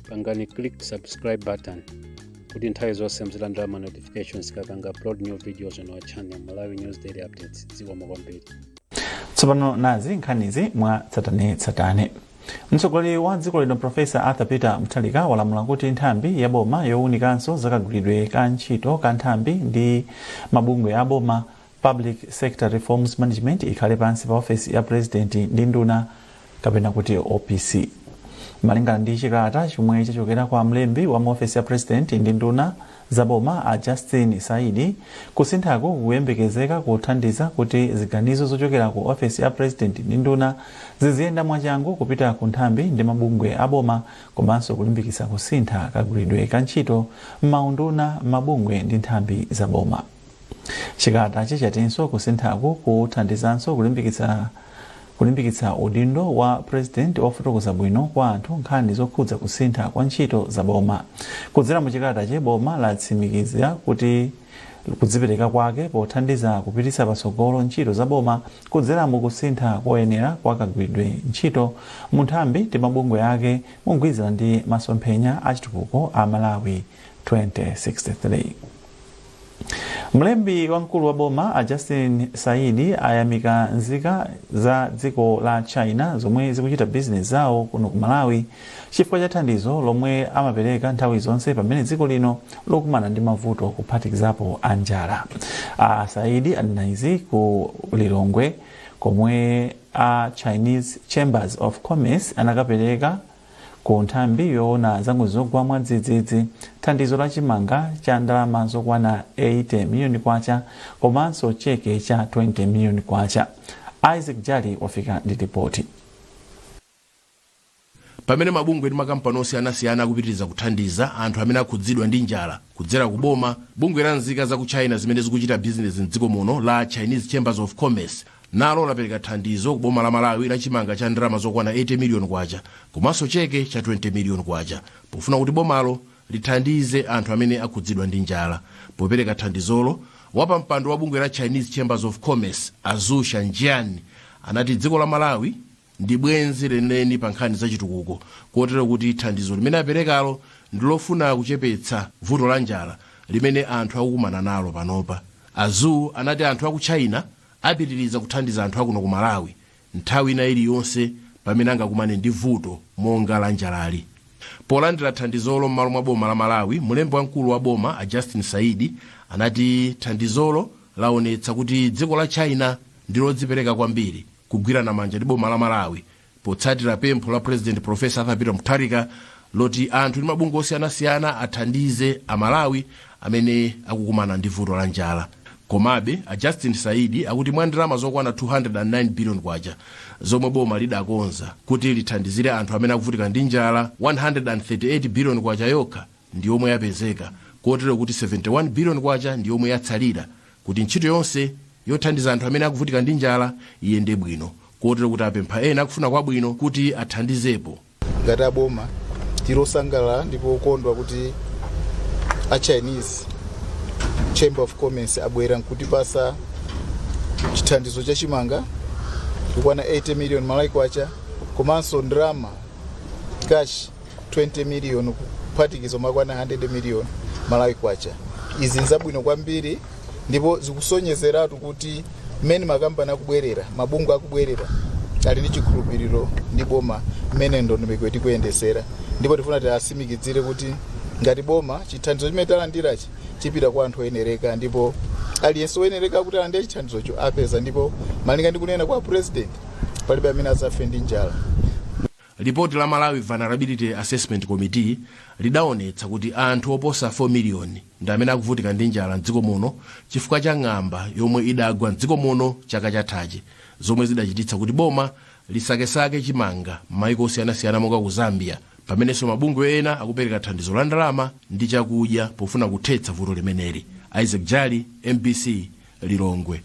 pangani click subscribe button kuti nthawi zonse muzilandira ma notifications tikapanga upload new videos on our channel malawi news daily updates zikomo kwambiri tsopano nazi nkhanizi mwa tsatanetsatane mtsogoleri wa dziko lino profesa arthur peter mutharika walamula kuti nthambi ya boma yowunikanso zakagwiridwe ka ntchito ka nthambi ndi mabungwe a boma Public Sector Reforms Management ikhale pansi pa ofesi ya Purezidenti ndi nduna kapena kuti OPC. Malingana ndi chikalata chomwe chachokera kwa mlembi wa mu ofesi ya Purezidenti ndi nduna za boma a Justin Saidi, kusinthaku kukuyembekezeka kuthandiza kuti ziganizo zochokera ku ofesi ya Purezidenti ndi nduna ziziyenda mwachangu kupita ku nthambi ndi mabungwe a boma komanso kulimbikitsa kusintha kagwiridwe ka ntchito m'maunduna, mabungwe ndi nthambi za boma. Chikalatachi chatinso kusinthaku kuthandizanso kulimbikitsa kulimbikitsa udindo wa purezidenti ofotokoza bwino kwa anthu nkhani zokhudza kusintha kwa ntchito za boma. Kudzera mu chikalatachi, boma latsimikiza kuti kudzipereka kwake pothandiza kupititsa patsogolo ntchito za boma kudzera mu kusintha koyenera kwa kagwiridwe ntchito mu nthambi ndi mabungwe ake mogwirizana ndi masomphenya a chitukuko a Malawi 2063 mlembi wamkulu wa boma a justin saidi ayamika nzika za dziko la china zomwe zikuchita bizinesi zawo kuno ku malawi chifukwa cha thandizo lomwe amapereka nthawi zonse pamene dziko lino lakumana ndi mavuto kuphatikizapo a njala a saidi anena izi ku lilongwe komwe a chinese chambers of commerce anakapereka Ku nthambi yoona za ngozi zogwa mwadzidzidzi, thandizo la chimanga cha ndalama zokwana 80 miliyoni kwacha komanso cheke cha 20 miliyoni kwacha. Isaac Jali wafika ndi lipoti. Pamene mabungwe ndi makampani osiyanasiyana akupitiriza kuthandiza anthu amene akhudzidwa ndi njala kudzera ku boma, bungwe la nzika za ku China zimene zikuchita bizinesi m'dziko muno la Chinese Chambers of Commerce, nalo lapereka thandizo ku boma la malawi la chimanga cha ndalama zokwana 80 miliyoni kwacha komanso cheke cha 20 miliyoni kwacha pofuna kuti bomalo lithandize anthu amene akhudzidwa ndi njala popereka thandizolo wapampando wa bungwe la chinese chambers of commerce a zuo shanjian anati dziko la malawi ndi bwenzi lenileni pa nkhani zachitukuko kotero kuti thandizo limene aperekalo ndilofuna kuchepetsa vuto la njala limene anthu akukumana nalo panopa a zuo anati anthu aku china apitiriza kuthandiza anthu akuno ku malawi nthawi ina iliyonse pamene angakumane ndi vuto monga la njalali polandira thandizolo m'malo mwa boma la malawi mlembi wamkulu wa boma a justin saidi anati thandizolo laonetsa kuti dziko la china ndilodzipereka kwambiri kugwirana manja ndi boma la malawi potsatira pempho la president profesa arthur peter mutharika loti anthu ndi mabungwe osiyanasiyana athandize amalawi amene akukumana ndi vuto la njala komabe a justin saidi akuti mwa ndalama zokwana 209 billion kwacha zomwe boma lidakonza kuti lithandizire anthu amene akuvutika ndi njala 138 billion kwacha yokha ndi yomwe yapezeka kotero kuti 71 billion kwacha ndi yomwe yatsalira kuti ntchito yonse yothandiza anthu amene akuvutika ndi njala iyende bwino kotero kuti apempha ena akufuna kwabwino kuti athandizepo. ngati aboma tili osangalala ndipo okondwa kuti a chinese chamber of commerce abwera nkutipasa chithandizo cha chimanga kukwana 80 million malawi kwacha komanso ndalama cash 20 million kuphatikiza kumakwana 100 million malawi kwacha izi nzabwino kwambiri ndipo zikusonyezeratu kuti mmene makampani akubwerera mabungwe akubwerera ali ndi chikhulupiriro ndi boma mmene ndondomeko tikuyendesera ndipo tifuna tiasimikizire kuti ngati boma chithandizo chimene talandirachi chipita kwa anthu oyenereka ndipo aliyense oyenereka kuti alandire chithandizocho apeza ndipo malinga ndi kunena kwa president palibe amene azafe ndi njala Lipoti la Malawi Vulnerability Assessment Committee lidaonetsa kuti anthu oposa 4 miliyoni ndi amene akuvutika ndi njala m'dziko muno chifukwa cha ng'amba yomwe idagwa m'dziko muno chaka chathachi, zomwe zidachititsa kuti boma lisakesake chimanga m'maiko osiyanasiyana monga ku Zambia, pamenenso mabungwe ena akupereka thandizo la ndalama ndi chakudya pofuna kuthetsa vuto limeneli. Isaac Jali, mbc, Lilongwe.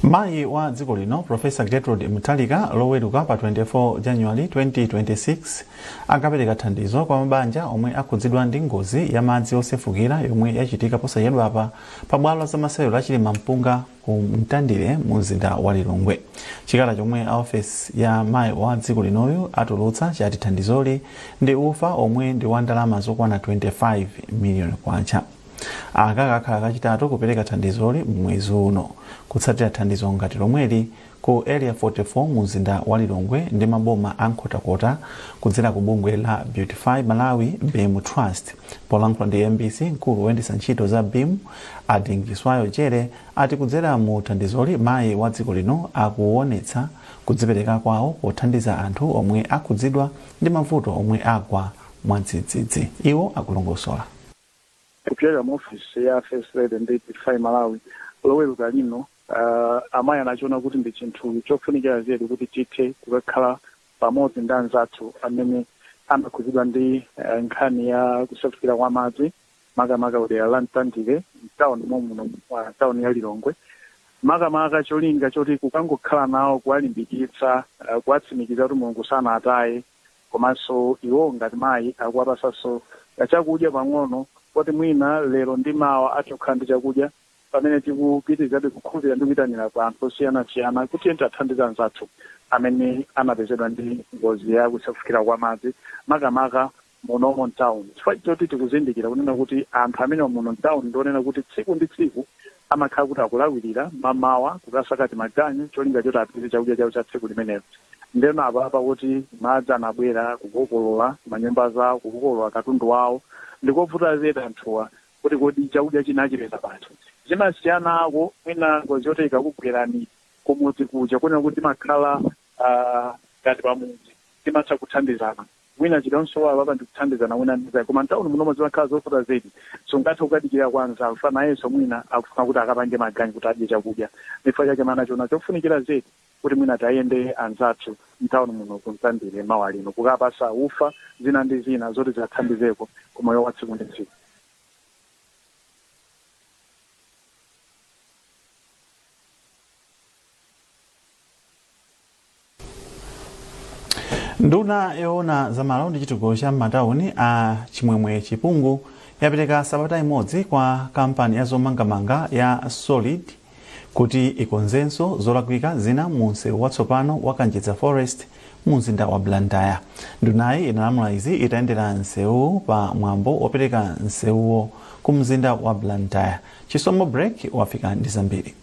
mayi wa dziko lino profesa gertrude mutharika loweruka pa 24 january 2026 akapereka thandizo kwa mabanja omwe akhudzidwa ndi ngozi ya madzi osefukira yomwe yachitika posachedwapa pa bwalo la zamasewero la chilimampunga ku mtandire mu mzinda wa lilongwe chikalata chomwe a ofesi ya mayi wa dziko linoyu atulutsa chati thandizoli ndi ufa omwe ndi wa ndalama zokwana 25 miliyoni kwacha aka kakhala kachitatu kupereka thandizoli m'mwezi uno kutsatira thandizo ngati lomweli ku area 44 mu mzinda wa lilongwe ndi maboma a nkhotakota kudzera ku bungwe la beautify malawi beam trust polankhula ndi mbc mkulu woyendetsa ntchito za beam a dingiswayo jere ati kudzera mu thandizoli mayi wa dziko lino akuwonetsa kudzipereka kwawo pothandiza anthu omwe akhudzidwa ndi mavuto omwe agwa mwadzidzidzi iwo akulongosola Kupyera mu ofesi ya First Lady ndi Beautify Malawi, Loweruka lino, amayi anachiona kuti ndi chinthu chofunikira zedi kuti tithe kukakhala pamodzi ndi anzathu amene anakhudzidwa ndi nkhani ya kusefukira kwa madzi, makamaka kudera la Mtandire, m'tauni momwemuno mwa tauni ya Lilongwe. Makamaka cholinga choti kukangokhala nawo, kuwalimbikitsa, kuwatsimikiza kuti Mulungu sanawataye. komanso iwo ngati mayi akuwapasanso kachakudya pang'ono kuti mwina lero ndi mawa athe kukhala ndi chakudya pamene tikupitirizabe kukhulupirira ndi kuyitanira pa anthu osiyanasiyana kuti tiyeni tiwathandize anzathu amene anapezedwa ndi ngozi ya kusefukira kwa madzi makamaka munomo m'tauni chifukwa choti tikuzindikira kunena kuti anthu amene muno m'tauni ndi onena kuti tsiku ndi tsiku Amakhala kuti akulawirira mmamawa kukasaka timaganyu cholinga choti apeze chakudya chawo cha tsiku limenelo. Ndeno apapa kuti madzi anabwera kukokolola manyumba zawo, kukokolola katundu wawo, ndikovuta zedi anthuwa kuti kodi chakudya china achipeza pati. Zimasiyanako mwina ngozi yoti ikakugwerani kumudzi kuja kunena kuti timakhala ngati pamudzi timatha kuthandizana. Mwina chikamsowa apa ndikuthandizana wina ndi mnzake koma mtauni munomo zimakhala zovuta zedi. Sungathe kukadikira kwa mnzako chifukwa nayenso mwina akufuna kuti akapange maganyu kuti adye chakudya. Ndichifukwa chake amayi anachiona chofunikira zedi kuti mwina tiwayendere anzathu mtauni muno ku Mtandire mawa lino kukawapatsa ufa zina ndi zina zoti ziwathandizeko ku moyo wa tsiku ndi tsiku. nduna yoona za malo ndi chitukuko cha m'matauni a chimwemwe chipungu yapereka sabata imodzi kwa kampani ya zomangamanga ya solid kuti ikonzenso zolakwika zina mu msewu watsopano wa kanjedza forest mu mzinda wa blantyre ndunayi inalamula izi itayendera msewuwu pa mwambo wopereka msewuwu ku mzinda wa blantyre chisomo break wafika ndi zambiri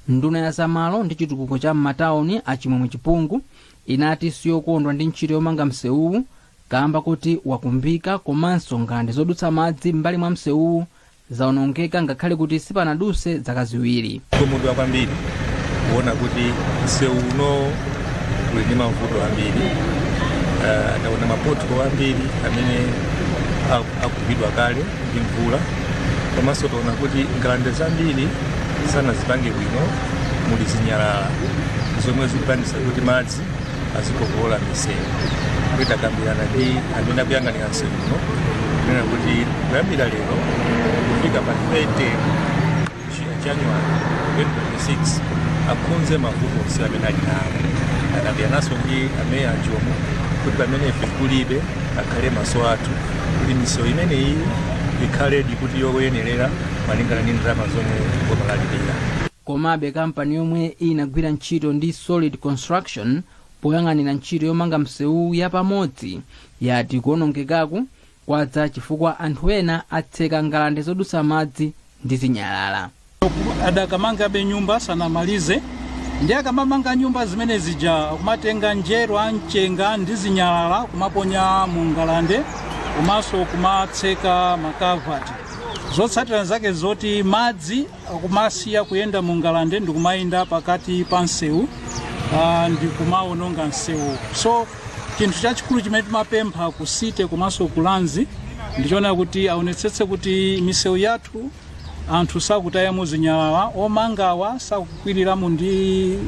Nduna ya zamalo ndi chitukuko cha m'matauni a Chimwemwe Chipungu inati siyokondwa ndi ntchito yomanga msewuwu kaamba kuti wakumbika komanso ngalande zodutsa madzi m'mbali mwa msewuwu zaonongeka ngakhale kuti sipanaduse zaka ziwiri. Ndakhumudwa kwambiri kuona kuti msewu uno uli ndi mavuto ambiri, uh, taona mapotholo ambiri amene akumbidwa kale ndi mvula komanso taona kuti ngalande zambiri sanazipange bwino muli zinyalala zomwe zikupangitsa kuti madzi azikokolola misewu ndiye takambirana ndi amene akuyang'anira msewu uno kunena kuti kuyambira lero kufika pa 30 January 2026 akonze mavuto onse amene ali nawo. Takambirananso ndi ameya a Jomo kuti pamene ife kulibe akhale maso athu kuti misewu imeneyi ikhaledi kuti yoyenerera malingana ndi ndalama zomwe boma lalipira. komabe kampani yomwe inagwira ntchito ndi solid construction poyang'anira ntchito yomanga msewu yapamodzi yati kuonongekaku kwadza chifukwa anthu ena atseka ngalande zodutsa madzi ndi zinyalala adakamangabe nyumba sanamalize ndi akamamanga nyumba zimene zija kumatenga njerwa mchenga ndi zinyalala kumaponya mu ngalande komanso kumatseka makavati zotsatira zake zoti madzi akumasiya kuyenda mu ngalande ndikumayenda pakati pa msewu ah, ndikumaononga msewu so Chinthu chachikulu chimene timapempha ku City komanso ku Lands ndichoona kuti aonetsetse kuti misewu yathu anthu sakutayamo zinyalala, omangawa sakukwiliramo ndi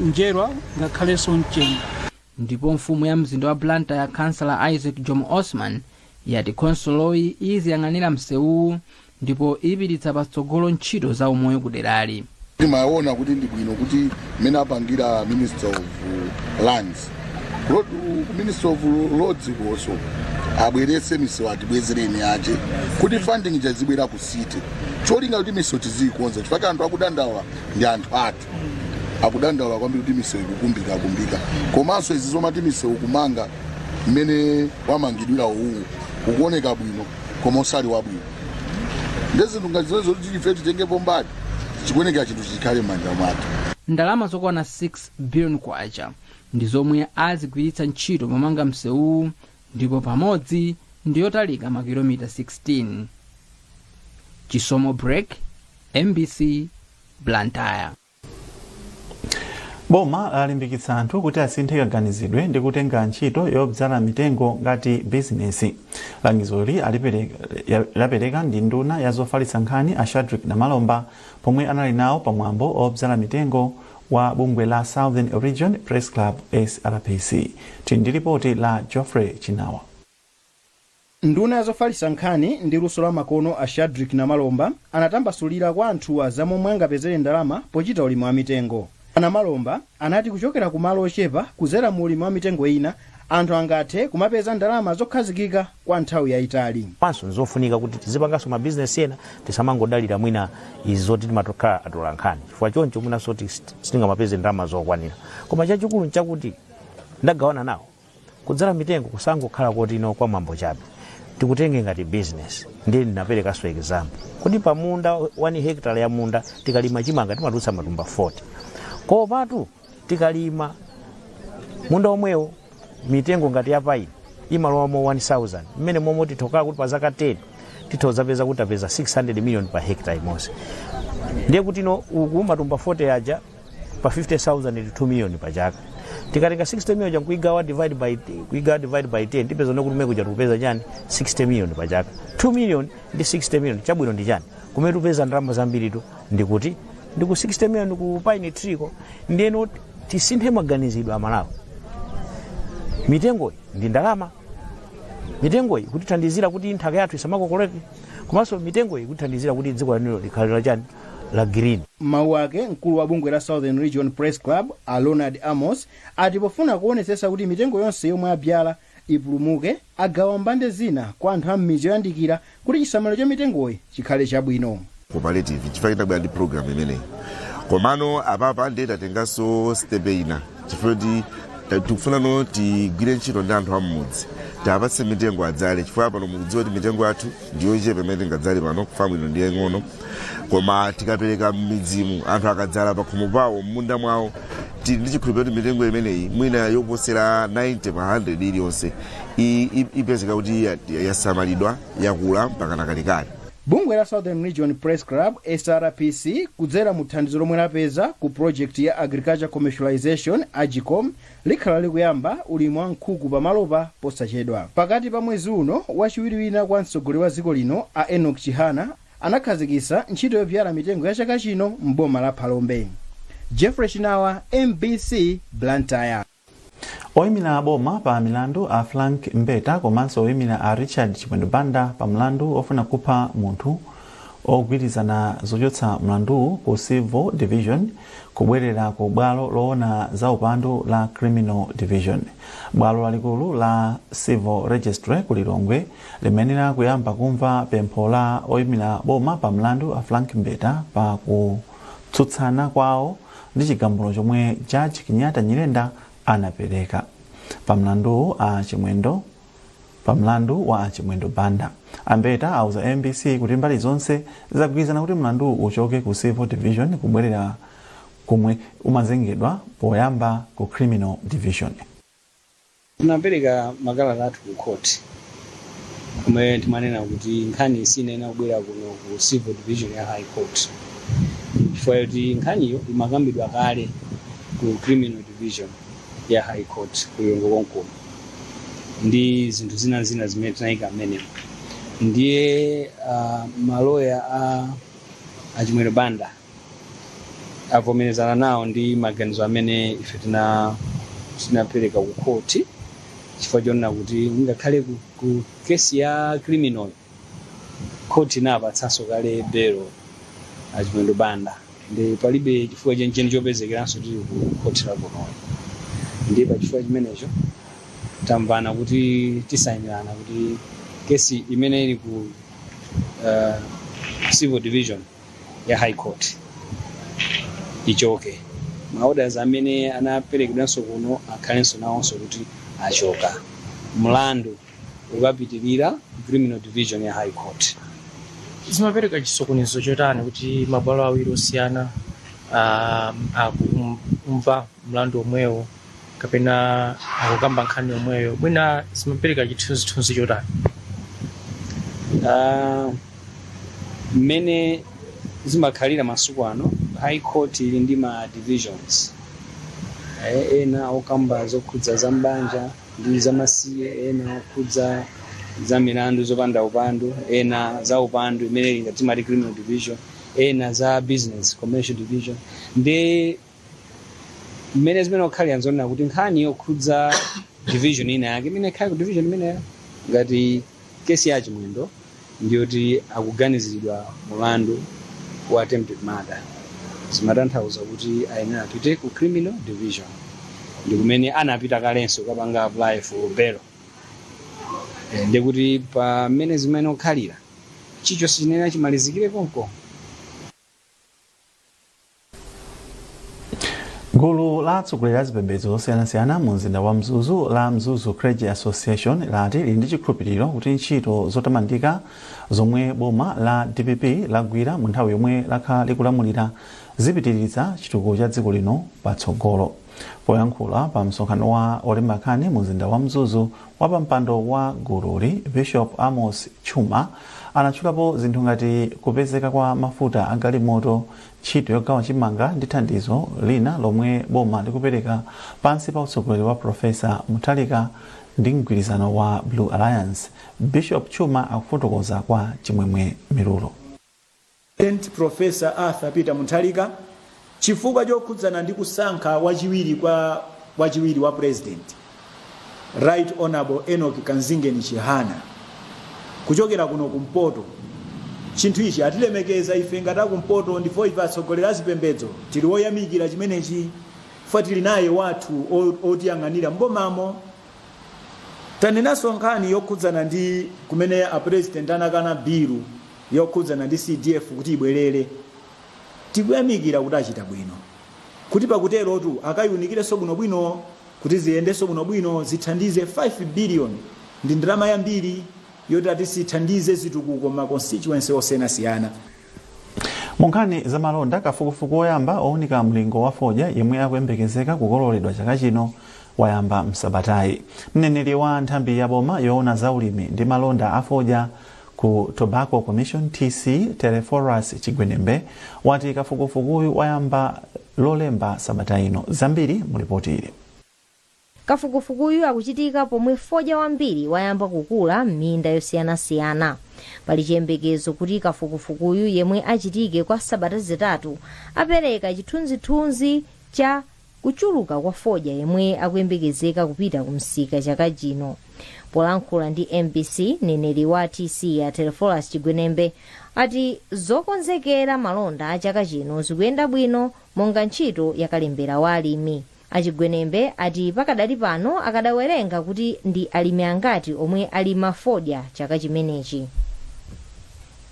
njerwa ngakhalenso mchenga. Ndipo mfumu ya mzinda wa Blantyre Councillor Isaac Jomo Osman yati khonsoloyi iziyang'anira msewuwu ndipo ipititsa patsogolo ntchito za umoyo ku derali. Timaona kuti ndi bwino kuti mmene apangira Minister of Lands, Minister of Roads konso abweretse misewu atibwezereni ache kuti funding yazibwera ku city cholinga kuti misewu tiziyikonza chifukwa anthu akudandaula ndi anthu athu akudandaula kwambiri kuti misewu ikukumbika kumbika komanso izi zomati misewu kumanga mmene wamangidwira uwu ukuoneka bwino koma osali wabwino nde zinthu ngati zimenezo kuti ife titengepo mbali chikuyenekera chinthu chikhale m'manja mwathu ndalama zokwana 6 billion kwacha ndi zomwe azigwiritsa ntchito pomanga msewuwu ndipo pamodzi ndi yotalika makilomita 16 chisomo break mbc blantyre boma lalimbikitsa anthu kuti asinthe kaganizidwe ndi kutenga ntchito yodzala mitengo ngati bizinesi langizoli laperekedwa ndi nduna ya zofalitsa nkhani a shadrick namalomba pomwe anali nawo pa mwambo odzala mitengo wa bungwe la southern region press club srpc tili ndi lipoti la geoffrey chinawa Nduna ya zofalitsa nkhani ndi luso la makono a Shadrick Namalomba anatambasulira kwa anthuwa za momwe angapezere ndalama pochita ulimi wa mitengo. A Namalomba anati kuchokera ku malo ochepa kudzera mu ulimi wa mitengo ina, anthu angathe kumapeza ndalama zokhazikika kwa nthawi yaitali. Komanso n'zofunika kuti tizipanganso mabizinesi ena, tisamangodalira mwina izi zoti timatokhala atolankhani chifukwa choncho mwinanso ti sitingamapeze ndalama zokwanira. Koma chachikulu n'chakuti ndagawana nawo. kudzala mitengo kusangokhala kuti ndi kwa mwambo chabe tikutenga ngati business ndiye ndinaperekaso example kuti pa munda 1 hectare ya munda tikalima chimanga timatulutsa matumba 40 kopatu tikalima munda omwewo mitengo ngati ya paini imalowamo 1000 mmene momwe tikuona kuti pa zaka 10 titha kudzapeza kuti tapeza 600 million pa hectare imodzi ndiye kutino uku matumba 40 aja pa 50000 ndi 2 million pa chaka tikatenga 60 million ja kuigawa divide by 10 tipeza no kuti mmene kuja tikupeza chani 60 million pa chaka 2 million ndi 60 million chabwino ndi chani kumene tupeza ndalama zambiritu ndikuti ndi ku 60 million ku pine tree ko ndiyeno tisinthe maganizidwe Amalawi mitengoyi ndi ndalama mitengoyi kutithandizira kuti nthaka yathu isamakokoleke komanso mitengoyi kutithandizira kuti dziko lathuli likhale la chani la Green. M'mawu ake, mkulu wa bungwe la Southern Region Press Club, a Leonard Amos, ati pofuna kuonetsetsa kuti mitengo yonse yomwe abyala ipulumuke, agawa mbande zina kwa anthu a m'midzi yoyandikira kuti chisamaliro cha mitengoyi chikhale chabwino. cooperative chifukwa chinabwera ndi program imeneyi komano apapa ndiye tatenganso stepe ina chifukwa kuti ta- tikufuna no tigwire ntchito ndi anthu am'mudzi tiwapatse mitengo adzale chifukwa pano mukudziwa kuti mitengo yathu ndiyochepa imene tingadzale pano famu ino ndi yaing'ono koma tikapereka m'midzimu anthu akadzala pakhomo pawo m'munda mwawo tili ndi chikhulupiriro kuti mitengo imeneyi mwina yoposera 90 pa 100 iliyonse i- i- ipezeka kuti ya- yasamalidwa yakula mpakana kalekale bungwe la southern region press club srpc kudzera mu thandizo lomwe lapeza ku project ya agriculture commercialization agcom likhala likuyamba ulimi wa nkhuku pa malopa posachedwa. Pakati pa mwezi uno, wachiwiri wina kwa mtsogoleri wa dziko lino a Enock Chihana anakhazikitsa ntchito yobyala mitengo ya chaka chino m'boma la Phalombe. Geoffrey Chinawa, mbc, Blantyre. Oimira boma pa milandu a Frank Mbeta komanso oimira a Richard Chimwendo Banda pa mlandu ofuna kupha munthu agwirizana zochotsa mlanduwu ku Civil Division kubwerera ku bwalo loona za upandu la Criminal Division. Bwalo lalikulu la Civil Registry ku Lilongwe limayenera kuyamba kumva pempho la oimira boma pa mlandu a Frank Mbeta pa kutsutsana kwawo ndi chigamulo chomwe Judge Kenyatta Nyirenda anapereka. Pa mlanduwu a Chimwendo Pa mlandu wa a Chimwendo Banda, a Mbeta auza mbc kuti mbali zonse zagwirizana kuti mlanduwu uchoke ku Civil Division kubwerera komwe umazengedwa poyamba ku Criminal Division. Tinapereka makalata athu ku court komwe timanena kuti nkhani sinayenera kubwera kuno ku Civil Division ya High Court chifukwa choti nkhaniyo imakambidwa kale ku Criminal Division. ya high court ku Lilongwe konkuno ndi zinthu zina zina zimene tinayika mmenemo ndiye uh, maloya a a chimwendo banda avomerezana nawo ndi maganizo amene ife tina tinapereka ku khoti chifukwa chonena kuti ngakhale ku, ku kesi ya criminal Khoti inapatsanso kale belo a Chimwendo Banda ndi palibe chifukwa chenicheni chopezekeranso tili ku khoti la kuno. Ndiye pa chifukwa chimenecho tamvana kuti tisainirana kuti kesi imene ili ku uh, civil division ya high court ichoke. Maorders amene anaperekedwanso kuno akhalenso nawonso kuti achoka. Mlandu ukapitirira ku criminal division ya high court zimapereka chisokonezo chotani kuti mabwalo awiri osiyana ah, akumva mlandu omwewo kapena akukamba nkhani yomweyo mwina zimapereka chithunzithunzi chotani Ah, mmene zimakhalira masiku ano high court ili ndi ma divisions Eh, ena okamba zokhudza za mbanja ndi zamasiye ena okhudza za milandu zopanda upandu ena za upandu imene timati criminal division ena za business commercial division ndi mmene zimene okhalira nzonena kuti nkhani yokhudza division ina yake imene ikhale ku division imeneyo ngati kesi ya chimwendo ndi yoti akuganizilidwa mulandu wa attempted murder zimatanthauza kuti ayenera apite ku criminal division ndi kumene anapita kalenso kapanga apply for bail Eh, ndi kuti pa mmene zimene okhalira chichonse chinena chimalizikire konko gulu la atsogoleri a zipembedzo zosiyanasiyana mu mzinda wa mzuzu la mzuzu clergy association lati lili ndi chikhulupiriro kuti ntchito zotamandika zomwe boma la dpp lagwira mu nthawi yomwe lakhala likulamulira zipititsa chitukuko cha dziko lino patsogolo poyankhula pa msonkhano wa olemba nkhani mu mzinda wa mzuzu wapampando wa gululi bishop amos tchuma anatchulapo zinthu ngati kupezeka kwa mafuta agalimoto ntchito yogawa chimanga ndi thandizo lina lomwe boma likupereka pansi pa utsogoleri wa profesa muthalika ndi mgwirizano wa blue alliance bishop tchuma akufotokoza kwa chimwemwe mirulo St Prof. Arthur Peter Mutharika chifukwa chokhudzana ndi kusankha wachiwiri wa president Right Honourable Enoch Kanzingeni Chihana kuchokera kuno kumpoto chinthu ichi atilemekeza ife ngati akumpoto ndipo ife atsogoleri azipembedzo tili woyamikira chimenechi ife tili naye wathu o- otiyang'anira mbomamo tanenanso nkhani yokhudzana ndi kumene apresident anakana bilu yokhudzana ndi CDF kuti ibwerere. Tikuyamikira kuti achita bwino, kuti pakuterotu akayiunikirenso bwinobwino kuti ziyendenso bwinobwino zithandize 5 billion ndi ndalama yambiri yoti ati zithandize zitukuko m'ma constituency osiyanasiyana. Mu nkhani za malonda, kafukufuku woyamba owunika mlingo wa fodya yemwe akuyembekezeka kukoloredwa chaka chino wayamba m'sabatayi. Mneneri wa nthambi ya boma yoona za ulimi ndi malonda a fodya Ku Tobacco Commission, TC, Telephorus Chigwenembe wati kafukufukuyu wayamba Lolemba sabata ino. Zambiri mu lipoti ili. Kafukufukuyu akuchitika pomwe fodya wambiri wayamba kukula m'minda yosiyanasiyana. Pali chiyembekezo kuti kafukufukuyu yemwe achitike kwa sabata zitatu apereka chithunzithunzi cha kuchuluka kwa fodya yemwe akuyembekezeka kupita ku msika chaka chino polankhula ndi mbc mneneri wa tc a telephorus chigwenembe ati zokonzekera malonda a chaka chino zikuyenda bwino monga ntchito yakalembera wa alimi a chigwenembe ati pakadali pano akadawerenga kuti ndi alimi angati omwe alima fodya chaka chimenechi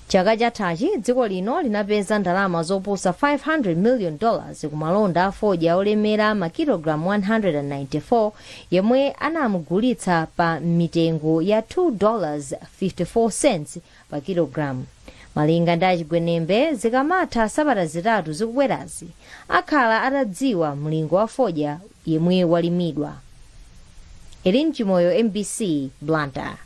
Chaka chathachi, dziko lino linapeza ndalama zoposa 500 million dollars ku malonda a fodya olemera ma kilogram 194 yemwe anamugulitsa pa mitengo ya 2 dollars 54 cents pa kilogram. Malinga ndi a Chigwenembe, zikamatha sabata zitatu zikubwerazi, akhala atadziwa mlingo wa fodya yemwe walimidwa. Elin Chimoyo, MBC, Blantyre.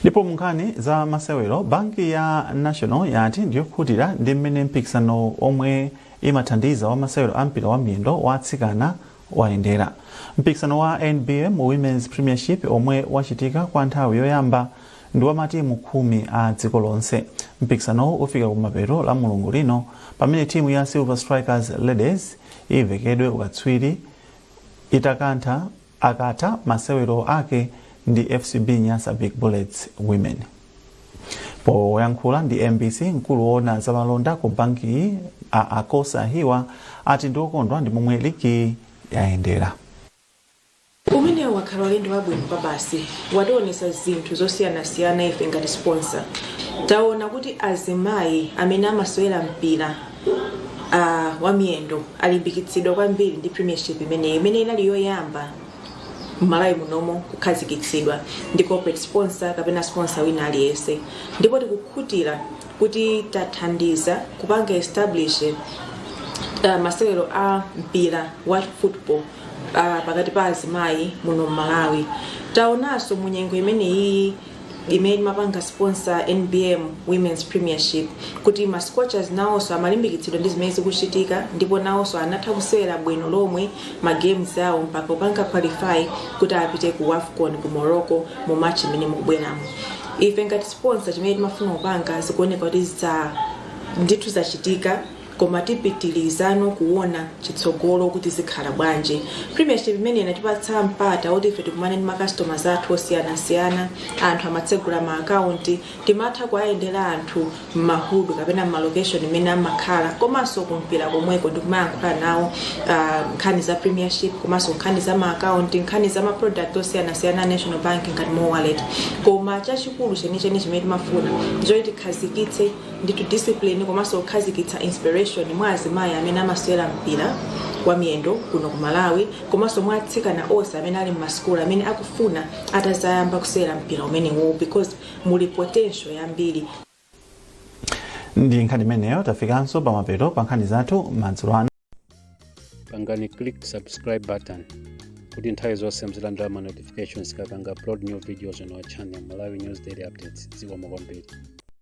ndipo munkhani za masewero banki ya national yati ndiyokhutira ndi mmene mpikisano omwe imathandiza wa masewero a mpira wa miyendo wa atsikana wayendera mpikisano wa nbm women's premiership omwe wachitika kwa nthawi yoyamba ndi wa matimu khumi a dziko lonse mpikisanowu ufika kumapeto lamulungu lino pamene timu ya silver strikers ladies ivekedwe ukatswiri itakantha akatha masewero ake ndi FCB Nyasa Big Bullets Women. Poyankhula ndi mbc, mkulu woona za malonda ku bankiyi a Akossa Hiwa ati ndi okondwa ndi momwe ligiyi yayendera. Umenewu wakhala ulendo wabwino kwabasi, wationetsa zinthu zosiyanasiyana ife ngati sponsor. Taona kuti azimayi amene amasewera mpira uh, wamiyendo alimbikitsidwa kwambiri ndi premiership imeneyi imene inali yoyamba mmalawi munomo kukhazikitsidwa ndi corporate sponsor kapena sponsor wina aliyense ndipo tikukhutira kuti tathandiza kupanga establish uh, masewero a mpira wa football uh, pakati pa azimayi muno mmalawi taonanso munyengo imeneyi imene timapanga sponsor nbm womens premiership kuti ma scorchers nawonso amalimbikitsidwa ndi zimene zikuchitika ndipo nawonso anatha kusewera bwino lomwe ma games awo mpaka kupanga qualify kuti apite ku wafcon ku morocco mu March mmene mukubweramo ife ngati sponsor chimene timafuna kupanga zikuoneka kuti ndithu zachitika koma tipitilizano kuona chitsogolo kuti zikhala bwanji premiership imeneyi inatipatsa mpata oti ife tikumane ndi macustomers athu osiyanasiyana anthu amatsegula ma akaunti timatha kuwayendera anthu m'mahudu kapena m'malocation imene amakhala komanso kumpira komweko ndikumayankhula nawo ah, nkhani za premiership komanso nkhani za ma account nkhani za ma product osiyanasiyana a national bank ngati mo wallet koma chachikulu chenicheni chimene timafuna ndichoti tikhazikitse ndithu discipline komanso kukhazikitsa inspiration mwa azimayi amene amasewera mpira wa miyendo kuno ku malawi komanso mwa atsikana onse amene ali mmasukulu amene akufuna atazayamba kusewera mpira umenewu because muli potential yambiri ndi nkhani imeneyo tafikanso pamapeto pa nkhani zathu madzulo ano pangani click subscribe button kuti nthawi zonse muzilandira ma notifications tikapanga upload new videos on our channel malawi news daily updates zikomo kwambiri